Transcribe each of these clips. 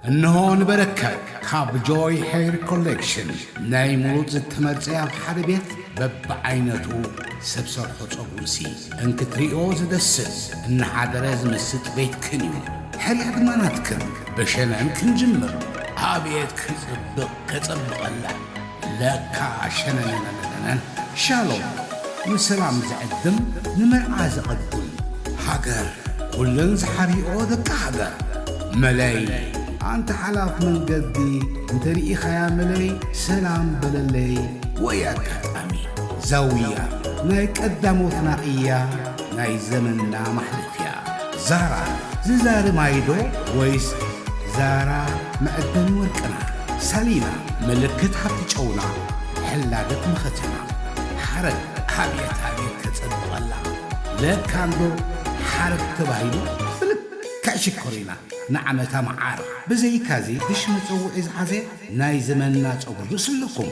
እንሆ ንበረከት ካብ ጆይ ሄር ኮሌክሽን ናይ ሙሉእ ዝተመርጸ ኣብ ሓደ ቤት በብዓይነቱ ሰብ ሰርሖ ጸጉርሲ እንክትርእዮ ዝደስስ እናሓደረ ዝምስጥ ቤትክን እዩ ሕልዕ ድማ ናትክን ብሸነን ክንጅምር ኣብየት ክጽብቕ ከጸብቐላ ለካ ሸነነነነነነን ሻሎም ንሰላም ዝዕድም ንመርዓ ዘቐዱም ሃገር ኩለን ዝሓብይኦ ደቂ ሃገር መለይ ኣንታ ሓላፍ መንገዲ እንተ ርኢኻያ መለይ ሰላም በለለይ ወይ ኣጋጣሚ ዛውያ ናይ ቀዳሞትና እያ ናይ ዘመንና ማሕለፍያ ዛራ ዝዛሪ ማይዶ ወይስ ዛራ መዐደኒ ወርቅና ሳሊና ምልክት ሃብቲ ጨውና ሕላገት መኸተና ሓረግ ኣቤት ኣቤት ከጸብቐላ ለካንዶ ሓረግ ተባሂሉ ብልክዕ ሽኮር ኢና ንዓመታ መዓር ብዘይካዚ ብሽ መጸውዒ ዝሓዘ ናይ ዘመንና ጸጉሪ ርእሲ ኣለኩም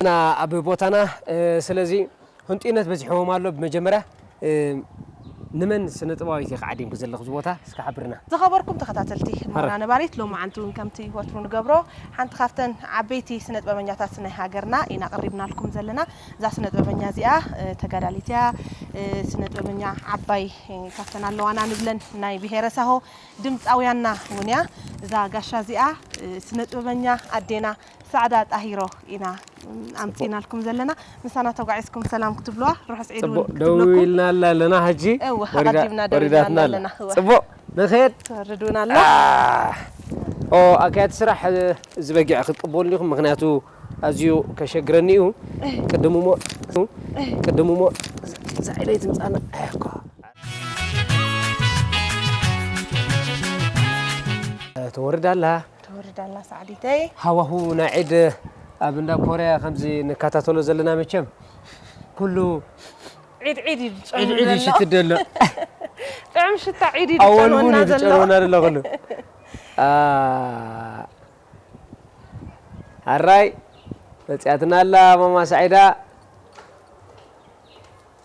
እና ኣብ ቦታና ስለዚ ህንጡይነት በዚሕዎም ኣሎ ብመጀመርያ ንመን ስነጥበባዊት ኢኺ ዓዲምኪ ዘለኺ እዚ ቦታ እስኪ ሓብርና ዝኸበርኩም ተኸታተልቲ ህሞና ነባሪት ሎማዓንቲ እውን ከምቲ ወትሩ ንገብሮ ሓንቲ ካብተን ዓበይቲ ስነጥበበኛታት ናይ ሃገርና ኢና ቀሪብናልኩም ዘለና እዛ ስነጥበበኛ እዚኣ ተጋዳሊት እያ ስነጥበበኛ ዓባይ ካብተን ኣለዋና ንብለን ናይ ብሄረ ሳሆ ድምጻውያንና ውን እያ እዛ ጋሻ እዚኣ ስነጥበበኛ ኣዴና ሳዕዳ ጣሂሮ ኢና ኣምጺኢናልኩም ዘለና ምሳና ተጓዒዝኩም ሰላም ክትብልዋ ርሑስ ዒድ ውን ክትብለኩም ጽቡቅ ደዊልናላ ኣለና ሕጂ እወ ኣቀዲምና ደዊልናላ ኣለና እወ ጽቡቅ ንክየድ ትወርድ ውን ኣላ ኦ ኣካያዲ ስራሕ እዚ በጊዕ ክትቅበሉ ዲኹም ምክንያቱ ኣዝዩ ከሸግረኒ እዩ ቅድም እሞ ቅድም እሞ እዛ ኢለይ ትምጻና ኣሕኳ ትወርድ ኣላ ትወርድ ኣላ ሳዕዲተይ ሃዋሁ ናይ ዒድ ኣብ እንዳ ኮርያ ከምዚ ንከታተሎ ዘለና መቸም ኩሉ ዒድ ዒድ እዩ ዒድ ዒድ ይሽትት ዘሎ ጥዑም ሽታ ዒድ እዩ ዝጨንወና ዘሎ ዝጨንወና ዘሎ ኩሉ ኣራይ መፅያትና ኣላ ማማ ሳዒዳ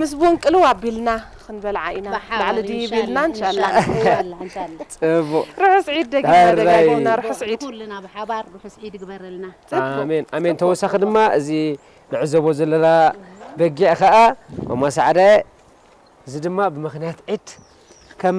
ምስ ቡን ቅልው ኣቢልና ክንበልዓ ኢና ላዕሊ ድይብ ኢልና እንሻላ። ርሑስ ዒድ ደጊምና ደጋጊምና ርሑስ ዒድ። ንኹልና ብሓባር ርሑስ ዒድ ይግበረልና። ኣሜን ኣሜን ተወሳኺ ድማ እዚ ንዕዘቦ ዘለና በጊዕ ከኣ ማማ ሰዓዳየ እዚ ድማ ብምኽንያት ዒድ ከም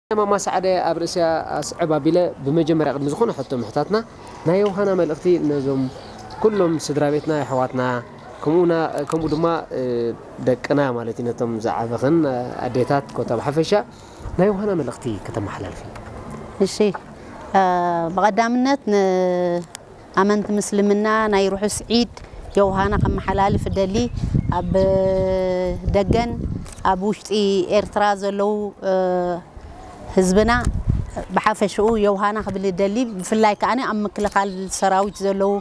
ናይ ማማ ሰዓደ ኣብ ርእስያ ኣስዕብ ኣቢለ ብመጀመርያ ቅድሚ ዝኮነ ሕቶ ምሕታትና ናይ ዮውሃና መልእክቲ ነዞም ኩሎም ስድራቤትና የሕዋትና ከምኡ ድማ ደቅና ማለት እዩ ነቶም ዝዓበክን ኣዴታት ኮታ ብሓፈሻ ናይ ዮውሃና መልእክቲ ከተማሓላልፊ። እሺ ብቀዳምነት ን ኣመንቲ ምስልምና ናይ ርሑስ ዒድ ዮውሃና ከመሓላልፍ እደሊ። ኣብ ደገን ኣብ ውሽጢ ኤርትራ ዘለዉ ህዝብና ብሓፈሽኡ ዮውሃና ክብል እደሊ። ብፍላይ ከኣ ኣብ ምክልኻል ሰራዊት ዘለዉ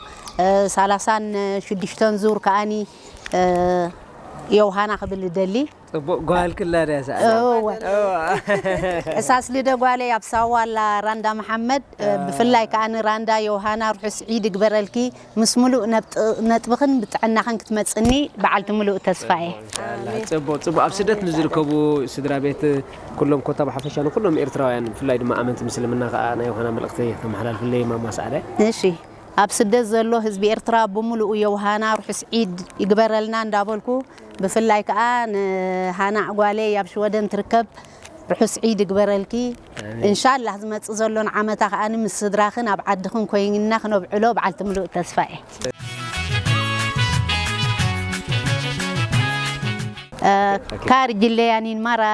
ሳላሳን ሽዱሽተን ዙር ከኣ ዮውሃና ክብል እደሊ። ፅቡቅ ጓል ክላ ድያ እዛ ኣላ እወ እዋ ሕሳስ ልደ ጓለይ ኣብ ሳዋ ኣላ ራንዳ መሓመድ ብፍላይ ከኣ ንራንዳ ዮውሃና ርሑስ ዒድ ይግበረልኪ ምስ ምሉእ ነጥብኽን ብጥዕናኽን ክትመጽኒ በዓልቲ ምሉእ ተስፋ እየ። እንሻላህ ፅቡቅ ፅቡቅ ኣብ ስደት ንዝርከቡ ስድራቤት ኩሎም ኮታ ብሓፈሻ ንኩሎም ኤርትራውያን ብፍላይ ድማ ኣመንቲ ምስልምና ከኣ ናይ ዮውሃና መልእኽተይ ከመሓላልፍለይ ማማ ሰዓደ። እሺ ኣብ ስደት ዘሎ ህዝቢ ኤርትራ ብምሉኡ ዮውሃና ርሑስ ዒድ ይግበረልና እንዳበልኩ ብፍላይ ከኣ ንሃና ጓለይ ኣብ ሽወደን ትርከብ ርሑስ ዒድ ይግበረልኪ እንሻላህ ዝመጽእ ዘሎን ዓመታ ከኣ ምስ ስድራክን ኣብ ዓድክን ኮይንና ክነብዕሎ በዓልቲ ምሉእ ተስፋ እየ። ካርጅለያኒን ማራ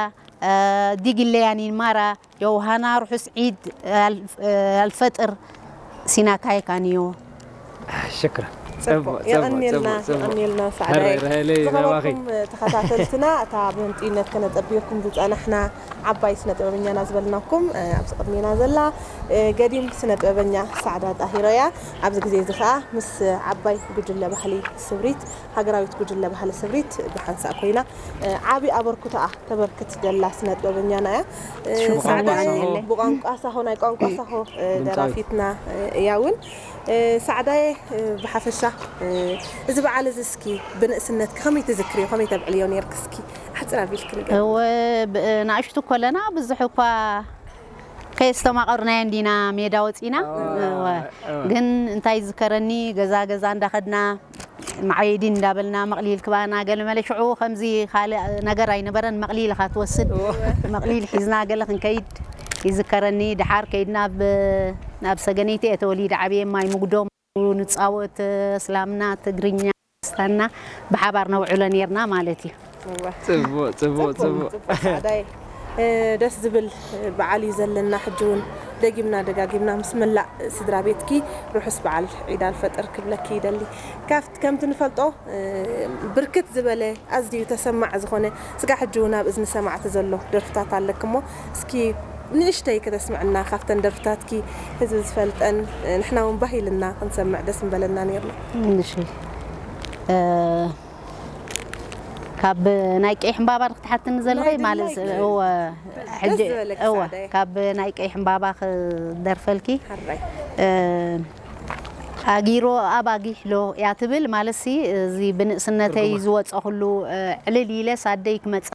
ዲግለያኒን ማራ ዮውሃና ርሑስ ዒድ ኣልፈጥር ሲና ካይካ ንዮ። ሽክራን ጽቡቅ የቀንየልና የቀንየልና ሳዕዳይ ዝኸበርኩም ተኸታተልትና እታ ብህንጥዩነት ከነጠብየኩም ዝጸናሕና ዓባይ ስነ ጥበበኛና ዝበልናኩም ኣብዚ ቅድሜና ዘላ ገዲም ስነ ጥበበኛ ሳዕዳ ጣሂሮ እያ ኣብዚ ግዜ እዚ ከኣ ምስ ዓባይ ጉጅለ ባህሊ ስብሪት ሃገራዊት ጉጅለ ባህሊ ስምሪት ብሓንሳእ ኮይና ዓቢ ኣበርኩቶኣ ተበርክት ዘላ ስነጥበበኛና እያ። ሰዓዳ ኣኔ ብቋንቋ ሳሆ ናይ ቋንቋ ሳሆ ደራፊትና እያ እውን። ሰዓዳየ ብሓፈሻ እዚ በዓል እዚ እስኪ ብንእስነትኪ ከመይ ትዝክርዮ ከመይ ተብዕልዮ ኔርኪ እስኪ ኣሕጽር ኣቢልኪ ንገሪና። እወ ንእሽቱ ኮለና ብዙሕ እኳ ከየስተማቐርናዮ እንዲና ሜዳ ወጺና ግን እንታይ ይዝከረኒ ገዛ ገዛ እንዳኸድና መዓየዲን እንዳበልና መቅሊል ክባና ገለ መለ ሽዑ ከምዚ ካልእ ነገር ኣይነበረን መቅሊል እኻ ትወስድ መቅሊል ሒዝና ገለ ክንከይድ ይዝከረኒ ደሓር ከይድና ናብ ሰገነይቲ እየ ተወሊደ ዓብየ ማይ ሙጉዶም ንጻወት እስላምና ትግርኛ ክርስታንና ብሓባር ነውዕሎ ኔርና ማለት እዩ። ፅቡቅ ፅቡቅ ፅቡቅ ፃዕዳይ ደስ ዝብል በዓል እዩ ዘለና ሕጂ እውን ደጊምና ደጋጊምና ምስ መላእ ስድራ ቤትኪ ርሑስ በዓል ዒድ ኣልፈጥር ክብለኪ ይደሊ ካፍት ከምቲ ንፈልጦ ብርክት ዝበለ ኣዝዩ ተሰማዕ ዝኾነ ስጋዕ ሕጂ እውን ኣብ እዝኒ ሰማዕቲ ዘሎ ደርፍታት ኣለኪ እሞ እስኪ ንእሽተይ ከተስምዕና ካፍተን ደርፍታትኪ ህዝቢ ዝፈልጠን ንሕና እውን ባህ ኢልና ክንሰምዕ ደስ ምበለና ነይርና እሺ ካብ ናይ ቀይሕ ዕምባባ ዶ ክትሓትኒ ዘለኺ ናይ ማለት ድላይ ናይ እወ ደስ ሕጂ ዝበለኪ እወ ሰዓዳየ ካብ ናይ ቀይሕ ዕምባባ ክደርፈልኪ ሓራይ እ፣ ኣጊሮ ኣብ ኣጊሕሎ እያ ትብል ማለትሲ እዚ ብንእስነተይ ዝወፀኹሉ እ፣ ዕልል ኢለስ ኣደይ ክመፅእ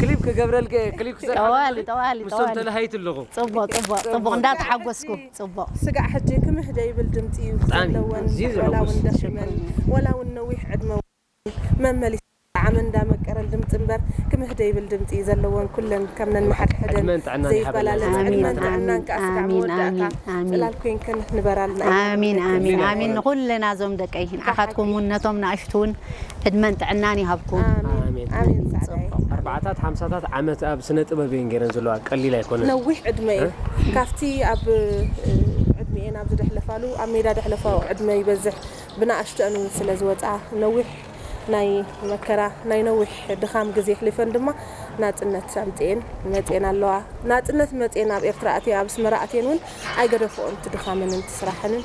ክሊፕ ክገብረልኪ እየ ክሊፕ ክሰርሓልኪ ጠዋሊ ጠዋሊ ምስቶም ጠዋሊ ተላሃይቲ ኣለኹ ጽቡቅ ጽቡቅ ጽቡቅ እንዳ ተሓጎስኩ ጽቡቅ ስጋዕ ሕጂ ክምህ ደይብል ድምጺ ዩ ብጣዕሚ ዘለወን ኣዝዩ ወላ ውን ዘሐጉስ ደኺመን ሽኮሪና ወላ ውን ነዊሕ ዕድመ ውን መመሊሰን ጣዕመን እንዳ መቀረን ድምጺ እምበር ክምህ ደይብል ድምጺ ዩ ዘለወን ኩለን ከም ነንሓድሕደን ዕድመን ጥዕናን ይሃበልና ዘይበላለጽ ኣሜን ዕድመን እግዚኣብሔር ጥዕናን ኣሜን ከኣ ስጋዕ ኣሜን መወዳእታ ኣሜን ኣሜን ጽላል ኮንክን ንበራልና ኣሜን ኣሜን ኣሜን ኣሜን ንኹልና እዞም ደቀይ ንዓኻትኩም ውን ነቶም ንኣሽቱ ውን ዕድመን ጥዕናን ይሃብኩም። ኣሜን ኣሜን ጻዕዳየ ጽቡቅ ኣርባዓታት ሓምሳታት ዓመት ኣብ ስነ ጥበብ እየን ጌረን ዘለዋ ቀሊል ኣይኮነን። ነዊሕ ዕድመ እዩ ካብቲ ኣብ ዕድሚኤን ኣብ ዝደሕለፋሉ ኣብ ሜዳ ደሕለፋኦ ዕድመ ይበዝሕ ብናኣሽቱኣን ውን ስለ ዝወጽኣ ነዊሕ ናይ መከራ ናይ ነዊሕ ድኻም ግዜ ኣሕሊፈን ድማ ናጽነት ኣምጺኤን መጺኤን ኣለዋ ናጽነት መጺኤን ኣብ ኤርትራ ኣትየ ኣብ ኣስመራ ኣትየን ውን ኣይገደፎኦን እቲ ድኻመንን እቲ ስራሐንን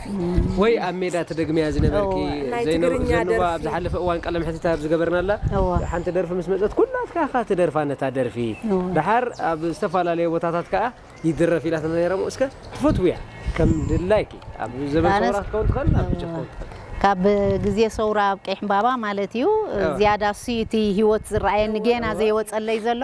ወይ ኣብ ሜዳ ትደግምያ ዝነበርኪ እወ ናይ ዘይነ ትግርኛ ዘንዋ ኣብ ደርፊ ዝሓለፈ እዋን ቃለ መሕትት ኣብ ዝገበርናላ እወ ሓንቲ ደርፊ ምስ መጸት ኩላትካ ኢኻ ትደርፋ ነታ ደርፊ እወ ደሓር ኣብ ዝተፋላለየ ቦታታት ከኣ ይድረፍ ኢላትና ነይራ እሞ እስከ ትፈትውያ ከም ድላይኪ ኣብ ዘበን ኣነስ ሰውራ ክትከውን ትኽእል ኣብ ሕጂ ክትከውን ትኽእል። ካብ ግዜ ሰውራ ኣብ ቀይሕምባባ ማለት እዩ እወ። ዝያዳ እሱ'ዩ እቲ ሂወት ዝረኣየኒ እወ ጌና እወ። ዘይወጸለይ ዘሎ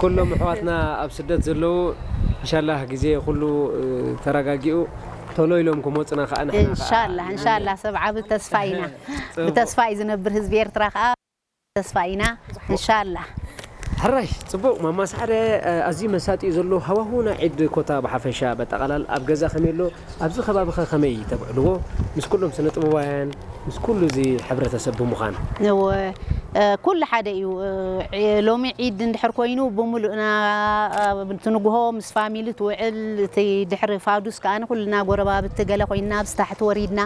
ኩሎም ኣሕዋትና ኣብ ስደት ዘለዉ እንሻላህ ግዜ ኩሉ ተራጋጊኡ ቶሎ ኢሎም ክሞጽና ካኣ ንሕና ካኣ እንሻላህ እንሻላህ ሰብ ዓቢ ተስፋ ኢና ብተስፋ እዩ ዝነብር ህዝቢ ኤርትራ ካኣ ተስፋ ኢና እንሻላህ። ሕራይ ጽቡቅ ማማ ሳዕረ ኣዝዩ መሳጢ እዩ ዘሎ ሃዋሁና ዒድ ኮታ ብሓፈሻ በጠቃላል ኣብ ገዛ ከመይ ኣሎ ኣብዚ ከባቢኸ ከመይ ተብዕልዎ ምስ ኩሎም ስነ ጥበባውያን ምስ ኩሉ እዚ ሕብረተሰብ ብምዃን? እወ ኩሉ ሓደ እዩ ሎሚ ዒድ እንድሕር ኮይኑ ብሙሉእና ኣብቲ ንጉሆ ምስ ፋሚሊ ትውዕል እቲ ድሕሪ ፋዱስ ከኣ ኩልና ጎረባብቲ ገለ ኮይንና ኣብዚ ታሕቲ ወሪድና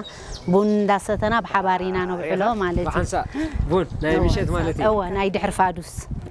ቡን እንዳሰተና ብሓባር ኢና ነብዕሎ ማለት እዩ። ብሓንሳእ ቡን ናይ ምሸት ማለት እዩ። እወ ናይ ድሕሪ ፋዱስ።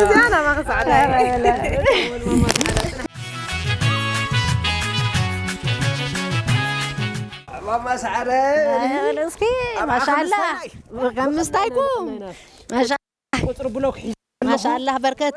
እዚኣ ናባኺ ፃዕዳ ማማ ሰዓረ እስኪ ማሻላ ከምስታይኩም ቁፅሪ ብሎክ ማሻላ በርከት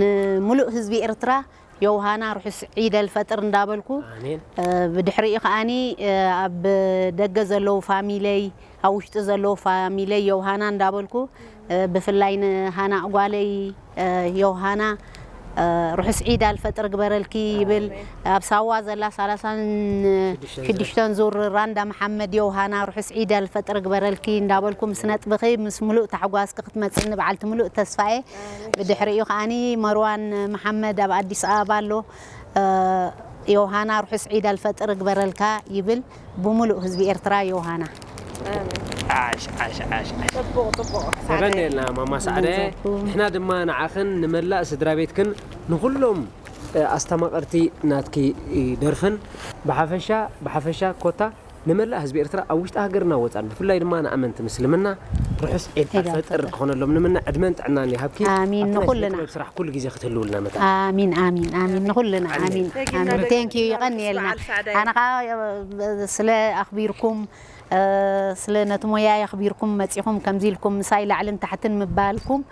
ንምሉእ ህዝቢ ኤርትራ ዮውሃና ርሑስ ዒድ ኣልፈጥር እንዳበልኩ ብድሕሪኡ ከኣ ኣብ ደገ ዘለዉ ፋሚለይ ኣብ ውሽጢ ዘለዉ ፋሚለይ ዮውሃና እንዳበልኩ ብፍላይ ንሃና ጓለይ ዮውሃና ርሑስ ዒድ ኣልፈጥር ግበረልኪ ይብል ኣብ ሳዋ ዘላ ሳላሳን ሽዱሽተን ዙር ራንዳ መሓመድ የውሃና ርሑስ ዒድ ኣልፈጥር ግበረልኪ እንዳበልኩ ምስ ነጥብኺ ምስ ሙሉእ ታሕጓስኪ ክትመፅኒ በዓልቲ ሙሉእ ተስፋ እየ ብድሕሪኡ ከኣ መርዋን መሓመድ ኣብ ኣዲስ ኣበባ ኣሎ። ዮውሃና ርሑስ ዒድ ኣልፈጥር እግበረልካ ይብል ብሙሉእ ህዝቢ ኤርትራ ዮውሃና። ዓሽ ዓሽ ዓሽ የቐንየልና ማማ ሳዕደ ንሕና ድማ ንዓኽን ንመላእ ስድራቤትክን ንኹሎም ኣስተማቐርቲ ናትኪ ደርፍን ብሓፈሻ ብሓፈሻ ኮታ ንመላእ ህዝቢ ኤርትራ ኣብ ውሽጢ ሃገርና ወጻን ብፍላይ ድማ ንኣመንቲ ምስልምና ርሑስ ዒድ ኣልፈጥር ክኾነሎም ንምነ ዕድመን ጥዕናን ይሃብኪ ኣሜን ኣብቲ ናይ ስነ ንኹልና ጥበብ ስራሕ ኩሉ ግዜ ክትህልውልና መታን ኣሚን ኣሚን ኣሚን ንኹልና ኣሜን ኣሚን ጀግና ኣሚን ደቂ ቴንክ ዩ ጀግና ርሑስ ይቐንየልና በዓል ሳዕዳይ። ኣነ ከዓ ስለ ኣኽቢርኩም እ፣ ስለ ነቲ ሞያይ ኣኽቢርኩም መጺኹም ከምዚ ኢልኩም ምሳይ ላዕልን ታሕትን ምባልኩም